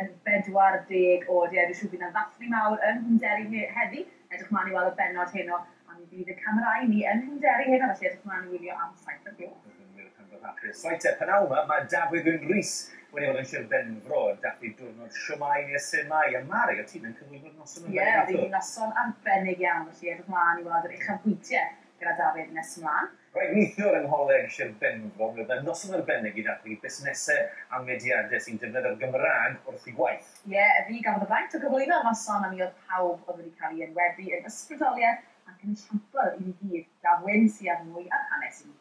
yn 40 oed. Ie, dwi siŵr bydd 'na ddathlu mawr yng Nghwmderi he- heddi. Edrych mlaen i weld y bennod heno, a mi fydd y camerâu ni yng Nghwmderi heno, felly edrych mlaen i wylio am Saith o'r Gloch. Bydd yn wych pan fo'r rhaglen Soeter. P'nawn 'ma, mae Dafydd Wyn Rees wedi bod yn Sir Benfro yn dathlu diwrnod Shwmae neu y Sumae, a Mari, o't ti'n yn cyflwyno'r noson arbennig i ffwrdd? Ie, oedd hi'n noson arbennig iawn, felly edrych mlaen i weld yr uchafbwyntie gyda Dafydd nes mlaen. Rhaid neithiwr yng Ngholeg Sir Benfro mi oedd 'na noson arbennig i ddathlu busnesau a mediadau sy'n defnyddio'r Gymraeg wrth eu gwaith. Ie, fi gafodd y fraint o gyflwyno y noson a mi oedd pawb oedd wedi cael ei enwebu yn ysbrydoliaeth ac yn esiampl i ni gyd. Gaf Wyn siarad mwy ar hanes i ni.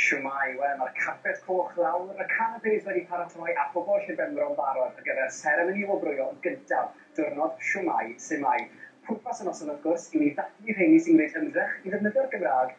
Shwmae! Wel, mae'r carped coch lawr, y canapes wedi paratoi a phobl Llyn Benfro yn barod ar gyfer seremoni wobrwyo gyntaf diwrnod Shwmae! Sumae! Pwrpas y noson wrth gwrs yw i ddathlu rheini sy'n gwneud ymdrech i ddefnyddio'r Gymraeg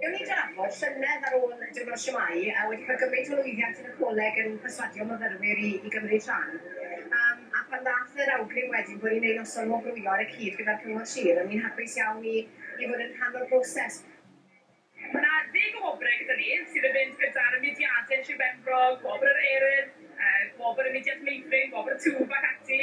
Gewn ni drafod llynedd ar ôl Diwrnod Shwmae a wedi cael gymaint o lwyddiant yn y coleg yn perswadio myfyrwyr i i gymryd rhan. Yym a phan ddath yr awgrym wedyn bod ni'n ei noson wobrwyo ar y cyd gyda'r Cyngor Sir o'n i'n hapus iawn i i fod yn rhan o'r broses. Mae 'na ddeg o wobrau gyda ni sydd yn mynd gyda'r mudiadau yn Sir Benfro, Gwobr yr Urdd, yy Gwobr y Mudiad Meithrin, Gwobr y Twf ac ati.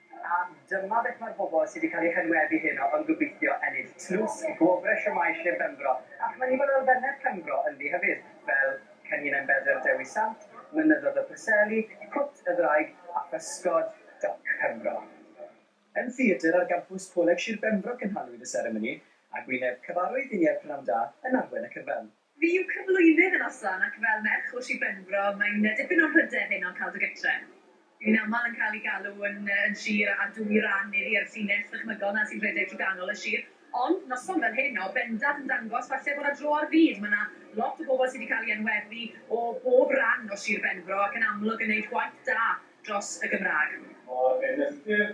A dyma beth mae'r bobl sydd wedi cael eu henwebu heno yn gobeithio ennill, tlws i Gwobrau Shwmae Sir Benfro, ac mae'n nifer o elfennau Penfro ynddi hefyd, fel Cenhinen Bedr Dewi Sant, Mynyddoedd y Preseli, Cwt y Ddraig a Physgod Doc Penfro. Yn theatr ar gampws Coleg Sir Benfro cynhaliwyd y seremoni, ag wyneb cyfarwydd i Nia Prynam Da yn arwain y cyfan. Fi yw cyflwynydd y noson ac fel merch o Sir Benfro mae'n dipyn o mhryder heno cael dy gytre. Fi'n aml yn cael i galw yn yn Sir a dwy ran iddi a'r llinell ddychmygol 'na sy'n rhedeg trwy ganol y Sir ond noson fel hyn o bendant yn dangos falle bod 'na dro ar fyd, ma' 'na lot o bobl sy' 'di cael i enwebu o bob ran o Sir Benfro ac yn amlwg yn neud gwaith da dros y Gymraeg. Mae'r enillwyr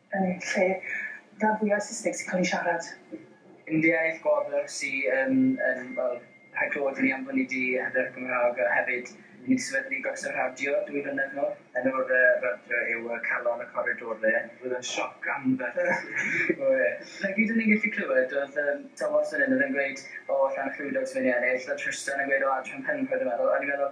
yn eu lle gan fwyaf Saesneg sy'n cael ei siarad. Yn dy iaith gwobr sy yn yn wel rhaid clywed hynny am hynny di hyder Cymraeg a hefyd i ni di sefydlu Gorsaf Radio dwy flynedd nol. Enw'r yy radio yw yy Calon y Coridore. Roedd o'n sioc anferth. O ie. Na gyd o'n ni'n gallu clywed oedd yym Tom Watson yn gweud o Llanllwydog sy'n mynd i ennill a Trystan yn gweud o Adran Penrhyn dwi'n meddwl a o'n i'n meddwl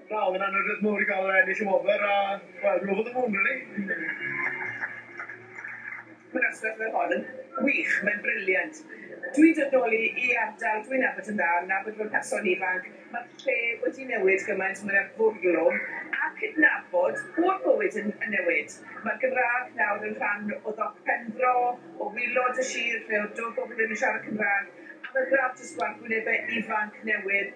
Wel, mae'n anrhydedd mawr i gael yr ennill y wobr a, wel, rhyfedd o fun, rili. Mae'n rhestr, mae hon yn wych, mae'n briliant. Dwi'n dod nôl i i ardal dwi'n nabod yn dda, nabod fy mherson ifanc, mae'r lle wedi newid gymaint, mae 'na fwrlwm a cydnabod bod bywyd yn yn newid. Mae'r Gymraeg nawr yn rhan o ddop pen-fro, o wilod y sir lle o'dd do bobl ddim yn siarad Cymraeg, a mae'r gradd jyst gwell, gwynebe ifanc newydd,